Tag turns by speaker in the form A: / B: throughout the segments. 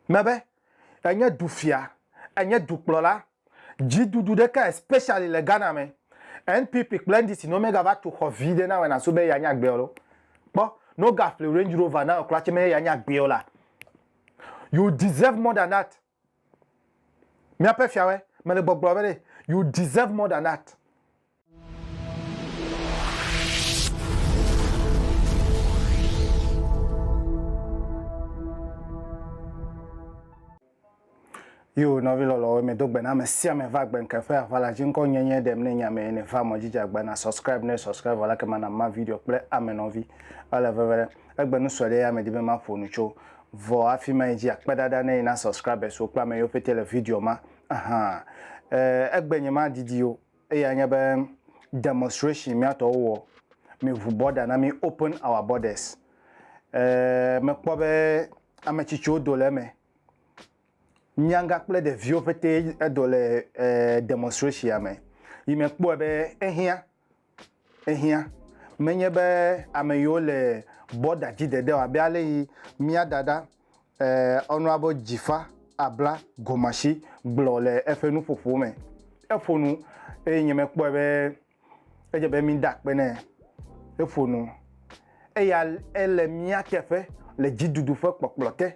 A: me be enye dufia, enye dukplɔla, dziɖuɖu ɖeka especially le Ghana me, NPP kple NDC ne womega va tu xɔ vi ɖe nawe na so be eya nye agbeɔ lo, kpɔ ne woga ƒli Range Rover nawe kura tse me eya nye agbeɔ la, you deserve more than that, miaƒe fiawɛ, mele gbɔgblɔ be ɖe, you deserve more than that. Yo nɔvi lɔlɔwo mi do gbena me sia me va gbe nke fe avala ji ŋkɔ nye nye ɖem ne nya me ne va mɔ jija gbena subscribe ne subscribe wala ke mana ma video kple ame nɔvi ele veve ɖe egbe nu sɔɖe ya me di be ma ƒo nu tso vɔ afi ma ji akpe dada ne ina subscribers wo kpa me yo pete le video ma aha eh, egbe nye ma didi yo Eyae nye be demonstration míatɔwo wɔ, miŋu border na mí, open our borders. Ee, mekpɔ be ame tsitsiwo do le eme, nyagã kple ɖeviwo ƒetee do le demonstration me. Yi mekpɔe be ehiã. Ehiã, menye be ame yiwo le bɔda dzi dede o, abe ale yi mía dada, eh, Honorable Jifa Abla Gomashi gblɔ le eƒe nuƒoƒo me. Eƒo nu eye nye mekpɔe be edze be mída akpe nɛ. Eƒo nu. Eya ele mía teƒe le dziɖuɖu ƒe kpɔkplɔ te.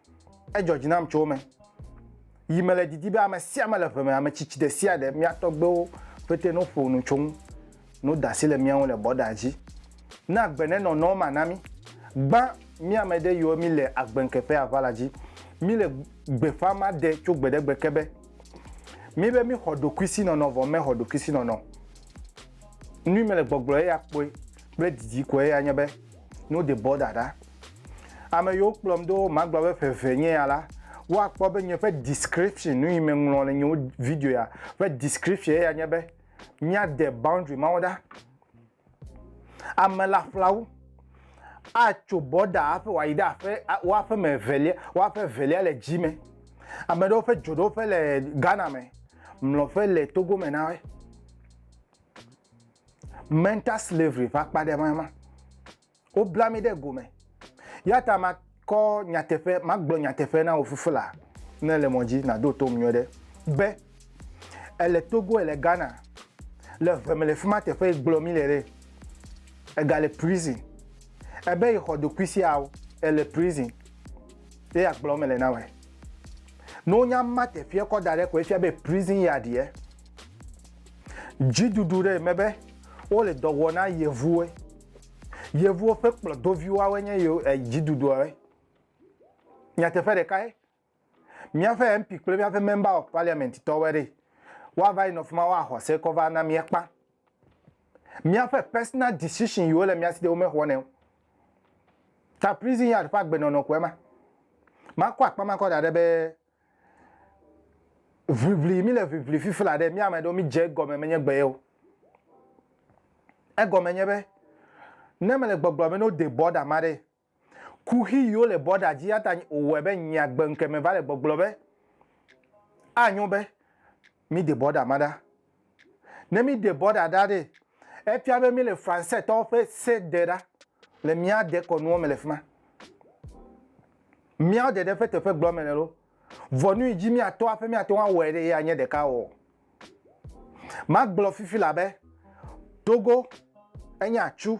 A: Edzɔ dzi nam tso wo me yi mele didi be ame sia ame le ʋe me, ame tsitsi ɖe sia ɖe, mía tɔgbewo ƒete no ƒo nu tso ŋu, no da asi le mía ŋu le bɔda dzi. Na gbe nenɔ nɔ ma na mí. Gbã mí ame ɖe yiwo mí le agbe ŋke ƒe aʋa la dzi. Mí le gbe ƒã ma ɖe tso gbe ɖe gbe ke be, mí be mí xɔ ɖokui si nɔnɔ vɔ mɛ xɔ ɖokui si nɔnɔ. Nui mele gbɔgblɔ eya kpɔe kple didi ko eya nye be, No de bɔ dada. Ame yiwo kplɔm ɖo magblɔ be ƒe eve nye ya la, woakpɔ be nye ƒe description, nu yi meŋlɔ le nye wo video ya ƒe description eya nye be, míade boundary mawo ɖa. Ame laƒlawo atso bɔda hafi wòayi ɖe aƒe wo aƒe me evelia wo aƒe evelia le dzi me. Ame ɖewo ƒe dzoɖoƒe le Ghana me, mlɔƒe le Togo me na woe. Mental slavery ƒe akpa ɖe ma ma. Wobla mi ɖe gome. Ya ta ma kɔ nyateƒe magblɔ nyateƒe na wò fifila ne le mɔ dzi nàɖo tom nyuie ɖe be ele togo ele ghana le ʋe me le fi ma teƒe gblɔ mi le ɖe egale prison ebe yi xɔ ɖokui siawo ele prison ye agblɔ me le na wɔ ne wonya ma teƒea kɔ da ɖe ko efia be prison ya ɖiɛ Dziɖuɖu ɖe eme be wole dɔ wɔ na yevuwoe. Yevuwo ƒe kplɔdoviwoawoe nye yewo e dziɖuɖuawoe. Nyateƒe ɖekae, míaƒe MP kple míaƒe Member of Parliament tɔwoe ɖee. Woava yi nɔ fi ma woaxɔ se kɔ va na mía kpã. Míaƒe personal decision yiwo le mía si de womexɔnɛ o. Ta prison yard ƒe agbenɔnɔ koe ma. Makɔ akpa ma kɔ da ɖe be Ʋliʋli, mí le ʋliʋli fifla ɖe, mí ame ɖewo mí dze egɔme menye gbe ye o. Egɔme nye be, ne mele gbɔgblɔ be ne wo de bɔda ma ɖe, kuxi yi wo le bɔda dzi ya ta wowɔe be nye agbe ŋkeme va le gbɔgblɔ be, anyo be Mi de bɔda ma ɖa. Ne mi de bɔda ɖa ɖe, efia be mi le Français tɔwo ƒe se de ɖa le mía dekɔnuwo me le fima. Miawo dede ƒe teƒe gblɔ me le lo. Vɔ nu yi dzi mia tɔ aƒe mia te ŋu awɔe ɖe ye anye ɖeka ɔ? Ma gblɔ fifi la be, Togo enye atsu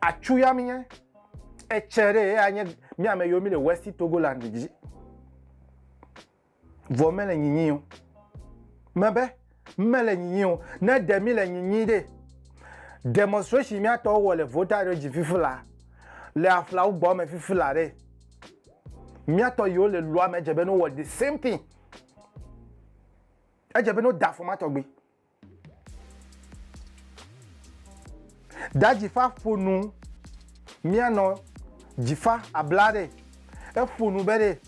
A: Atsu ya mi nye. Etsɛ ɖe ye anye mi ame yiwo mi le West Togoland dzi. Vɔ me le nyinyi o. Me be me le nyinyi o. Ne ɖe mi le nyinyi ɖe. Demonstration mi atɔ wɔ le vota ɖe dzi fifi la. Le afla wo gbɔ me fifi la ɖe. Mi atɔ yiwo le lua me dze be no wɔ the same thing. Edze be no da fɔ ma tɔgbi. Da dzifa ƒo nu mianɔ dzifa abla ɖe. Eƒo nu be ɖe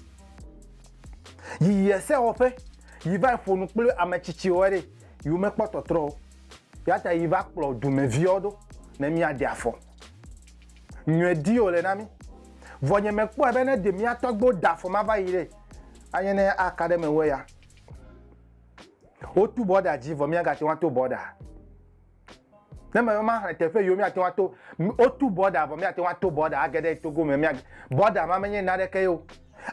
A: yi yi esewɔƒe yi va yi ƒo nu kple ame tsitsiwo ɖe yi wo mekpɔ tɔtrɔ o. Eya ta yi va kplɔ dumeviawo ɖo ne mia ɖe afɔ. Nyɔe di wo le na mi. Vɔ nye me kpɔe be ne ɖe mia tɔgbewo da afɔ ma va yi ɖe, anye ne aka ɖe me wu eya. Wotu bɔda dzi vɔ míagate ŋu ato bɔda. Ne mebe maxlẽ teƒe yiwo míate ŋu ato, wotu bɔda vɔ míate ŋu ato bɔda age ɖe Togo me. Mía bɔda ma menye naneke ye o.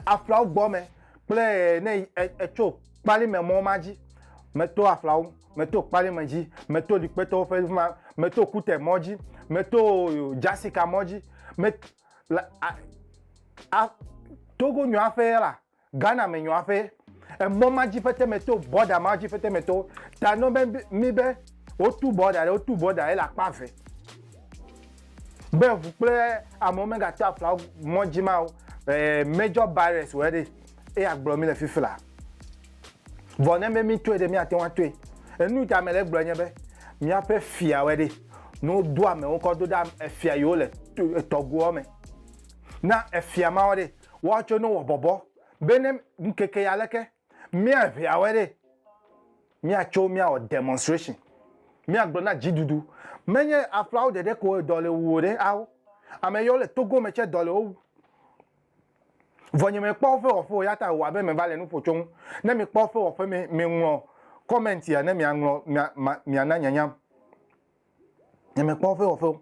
A: Aflawo gbɔ me kple ne etso kpali me mɔ ma dzi. Meto aflawo, meto kpali me dzi, meto likpetɔwo ƒe ma, meto kute mɔ dzi, meto jasika mɔ dzi, met, la, a, a, Togo nyɔa ƒe la. Ghana me nyɔa ƒe emɔ ma dzi ƒete me to, border ma dzi ƒete me to ta nɔ be mi be wo tu border ɖe, wo tu border ele akpa eve. Be eŋu kple amewo me ga to afla mɔ dzi ma o, eh, major barriers wɔ ɖe, eye agblɔ mi le fifila. Vɔ ne be mi toe ɖe, mi ate ŋu atoe. Enu ta me le gblɔ nye be, mia ƒe fia wɔ ɖe, ne wo do amewo kɔ do ɖa efia yi wo le tɔgoɔ me, na efia ma wɔ ɖe, woatso ne wɔ bɔbɔ be ne ŋkeke ya leke mia ʋea wɛ ɖe mia tso mia wɔ demonstration mia gblɔ na dzi dudu me nye aflawo ɖeɖe ko dɔ le wuwo ɖe awo ame yɔ le togo me tse dɔ le wowu vɔ nye me kpɔ fe wɔfe o ya ta wɔ abe me va le nuƒo tso ŋu ne mi kpɔ fe wɔfe me me ŋlɔ comment ya ne mia ŋlɔ mia mia na nyanyam nye me kpɔ fe wɔfe o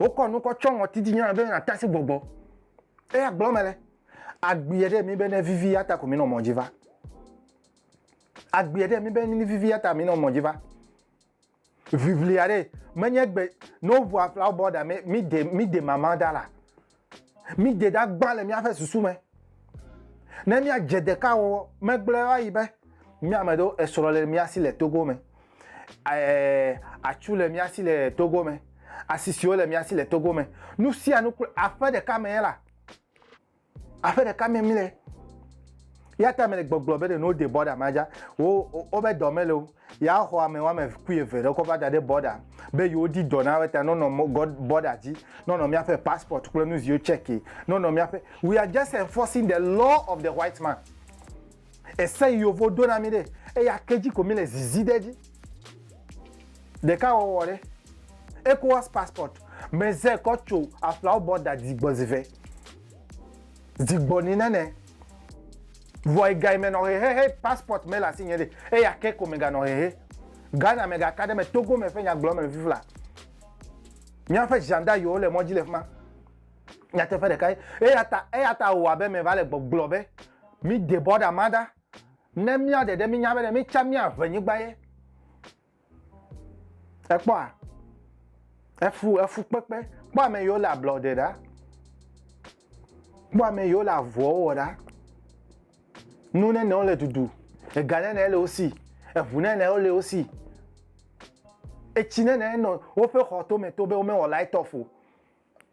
A: Wokɔ nu kɔ tsɔ ŋɔti dzi nyɔna be nàte asi gbɔgbɔ. Eya gblɔ mele. Agbia ɖe mi be ne vivi ya ta ko minɔ mɔ dzi va. Agbia ɖe mi be ne vivi ya ta minɔ mɔ dzi va. Ʋiʋlia ɖe menye gbe no ʋua flawo bɔ da mi de mi de mama da la. Míde ɖa gbã le míaƒe susu me. Ne míadze ɖeka wɔwɔ megblẽ va yi be, mía ame ɖewo esrɔ̃ le mía si le Togo me, ɛɛ, atsu le mía si le Togo me, asisiwo le mía si le Togo me, nu sia nu kple aƒe ɖeka me la, aƒe ɖeka me míle. Yata mele gbɔgblɔ be ɖe nuwo de bɔɖa ma dza, wo wobe dɔ mele o. Ya xɔ ame wame kui eve ɖe kɔ va da ɖe bɔda be yewo di dɔ na weta nɔnɔ bɔda dzi nɔnɔ miaƒe passport kple nuziwo check ye nɔnɔ miaƒe we are just enforcing the law of the white man ese yi yovo do na mi ɖe eya ke dzi ko mi le zizi ɖe dzi ɖeka wɔwɔ ɖe ecowas passport me ze kɔ tso aflawo bɔda dzigbɔ zive dzigbɔ ni nane Vɔ egayi me nɔ xexe he passport mele asi nye ɖe eya ke ko me ga nɔ xexe. Ghana me ga ka ɖe me Togo me ƒe nya gblɔ me le fifla. Mía ƒe ʒanda yiwo le mɔdzi le fima. Nyateƒe ɖeka ye. Eya ta eya ta wɔ abe me va le gbɔ gblɔ be mi de bɔda ma ɖa ne mía ɖeɖe mi nya be ne mi tsa mía ʋe nyigba ye. Ekpɔa? Efu efukpekpe. Kpɔ ame yiwo le ablɔde ɖa. Kpɔ ame yiwo le avɔwo wɔ ɖa. Nu nenewo le dudu. Ega nene le wo si. Eŋu nenewo le wo si. Etsi nene nɔ woƒe xɔ tome to be womewɔ light off o.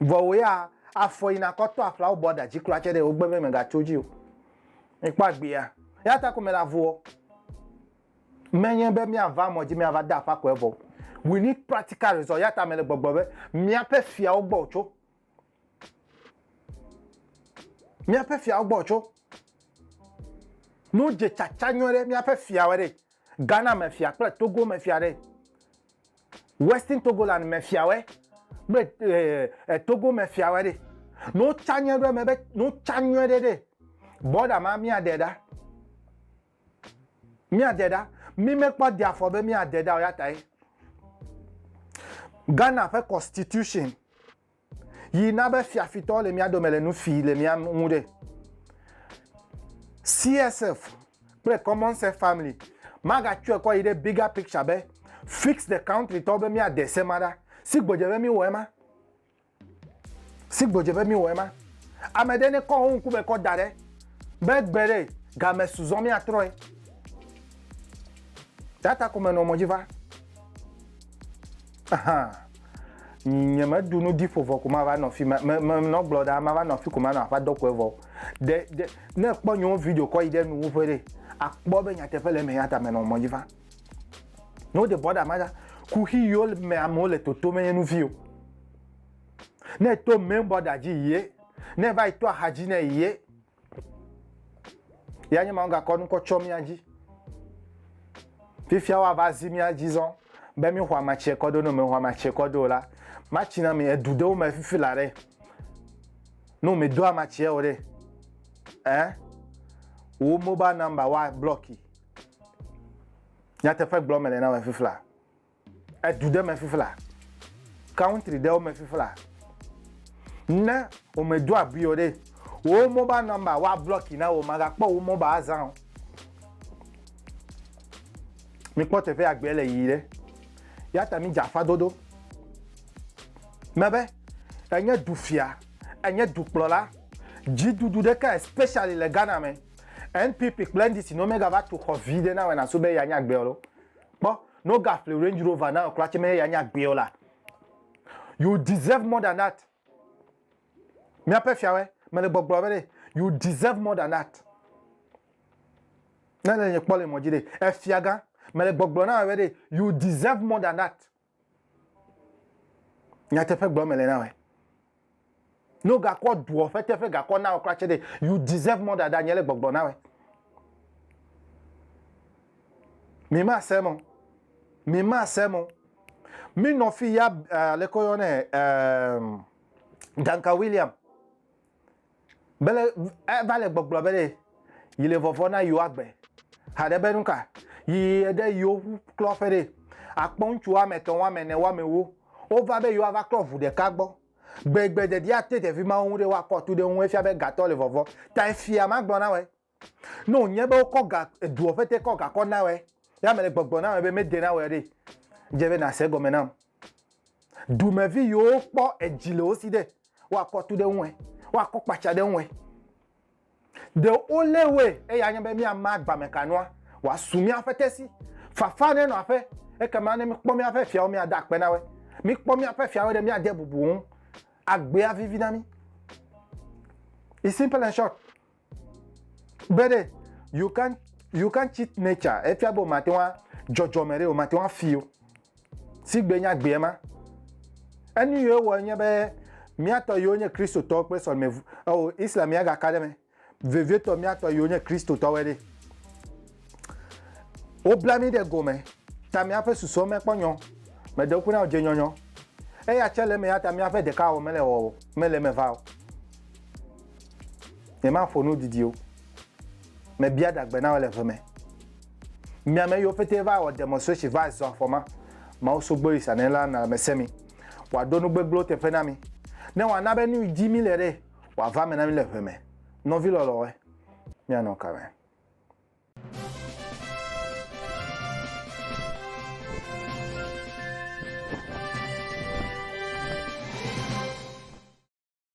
A: Vɔ wò ya afɔ yina kɔ tɔ aƒlawo bɔ da dzi kura tsɛ ɖe wò gbe be mega tso dzi o. Mi kpɔ agbea. Ya ta ko me le avuɔ. Me nye be mia va mɔ dzi mia va da aƒa kɔɛ vɔ. We need practical result. Ya ta me le gbɔgblɔ be mia ƒe fiawo gbɔ wò tso. Míaƒe fiawo gbɔ tso. Nu dze tsatsa nyuie ɖe míaƒe fiawo ɖe. Ghana me fia kple Togo me fia ɖe. Western Togoland me fiawe kple eh, eh, Togo me fiawe ɖe. Ne wotsa nyuie ɖe eme be ne wotsa nyuie ɖe ɖe, bɔda ma míaɖe ɖa. Míade ɖa. Mí mekpɔ de afɔ be míade ɖa o ya tae Ghana ƒe constitution yi na be fiafitɔwo le mía dome le nu fi le mía ŋu ɖe. CSF kple common self family magatsɔe kɔ yi ɖe bigger picture be fix the country tɔwo be míade se ma ɖa. Sigbɔdze be míwɔe ma. Sigbe dze be mi wɔ ema. Ame ɖe ne kɔ ho ŋku me kɔ da ɖe be gbe ɖe ga me su zɔn mi a trɔe. Ya ta ko me nɔ mɔ dzi va. Aha. Nye me du nu diƒo vɔ ko ma va nɔ fi me me me nɔ gblɔ ɖa ma va nɔ fi ko ma nɔ aƒa dɔ kɔe vɔ. De de ne kpɔ nyo video kɔ yi ɖe nu ƒe ɖe a kpɔ be nyateƒe le me ya ta me nɔ mɔ dzi va. No de bɔ ɖa ma ɖa. Kuxi yo me amewo le toto me nye nu vi o. Ne to main border dzi yie, ne va yi to axa dzi ne yie, ya nye ma wogakɔ nu kɔ tsɔ mía dzi. Fifia woava zi mía dzi zɔn be mi xɔ amatsie kɔ do no, mi xɔ amatsie kɔ do la, matsi na mi edu ɖewo me fifi la ɖe. No mi do amatsie o ɖe, eh, wo mobile number wa blɔki. Nyateƒe gblɔ me le na me fifi la. edu ɖe me fifla, country ɖewo me fifla, ne wo me do abui o ɖe, wo mobile number wa blɔki na wo, ma ga kpɔ wo mobile azã o. Mi kpɔ teƒe agbe le yi ɖe. Ya ta mi dza afa dodo. Mebe, enye du fia, enye du kplɔla, dzi dudu ɖe ka especially le Ghana me, NPP kple NDC no me ga va tu xɔ vi ɖe na wena so be ya nya agbe o ɖo. Kpɔ, ne wogaƒle Range Rover na wò kura tsɛ meye ya nye agbee o la, you deserve more than that. Míaƒe Fiawɔe, mele gbɔgblɔ be ɖe, you deserve more than that. Ne le nye kpɔ le mɔ dzi ɖe, Efiagã, mele gbɔgblɔ na wò be ɖe, you deserve more than that. nyateƒe gblɔ mele na wɔ ne wogakɔ doɔ ƒe teƒe gakɔ na wɔ kura tse ɖe you deserve more dada nye le gbɔgblɔ na wɔ mi ma se mo mi ma se mo mi nɔ fi ya uh, eh, lekɔ yɔ ne uh, eh, danka william Bele eva le gbɔgblɔ be ɖe yi le vɔvɔ na yewo agbe. Haɖe be nuka? Yi ɖe yewo ŋu klɔ ƒe ɖe. Akpɔ ŋutsu woame etɔ̃, woame ene, woame ewo. Wova be yewoava klɔ ŋu ɖeka gbɔ. Gbe gbe ɖeɖi ate ɖevi mawo ŋu ɖe woakɔ tu ɖe eŋu efia be gatɔ le vɔvɔ. Ta efia magblɔ na wɔe. Ne wònye be wokɔ ga, edua ƒe te kɔ gakɔ na wòe, ya mele gbɔgblɔm na wò be mede na wòe ɖe, dze be nàse egɔme nam. Dumevi yiwo wokpɔ edzi le wo si ɖe, woakɔ tu ɖe eŋue, woakɔ kpatsa ɖe eŋue. Ɖe wolé woe eye anye be míama agbamekanua wòasu míaƒe te si. Fafa ne nɔ aƒe, ekema ne míkpɔ míaƒe fiawo míada akpe na woe. Míkpɔ míaƒe fiawoe ɖe, míade bubu wo ŋu, agbea vivi na mí. You simple and short. Be ɖe, you can't, you can't cheat nature, efia be wò mate ŋu a, dzɔdzɔme ɖe, wò mate ŋu afi o. Sigbe nye agbee ma. Enu yiwo wɔ nye be, mía tɔ yiwo nye Kristotɔwo kple sɔlime, eo, Islam ya gaka ɖe eme. Vevietɔ mía tɔ yiwo nye Kristotɔwoe ɖe. Wobla mí ɖe gome, ta míaƒe susuwo mekpɔ nyɔ, meɖe ŋku na wodze nyɔnyɔ. Eya tsɛ le eme, eya ta míaƒe ɖekawɔwɔ mele wɔwɔ, mele eme va o. Nyemaƒo nu didi o. Mebia ɖagbe na wo le ʋe me. Mi ame yiwo pete va wɔ demonstration va zɔ afɔ ma, Mawu Sogbeɣi Sanɛ la na mese mi, wòaɖo nu gbegblẽwo teƒe na mi, ne wòana be nu yi dzi míle ɖe, wòava eme na mí le ʋe me. Nɔvi lɔlɔ̃woe, míanɔ ka me?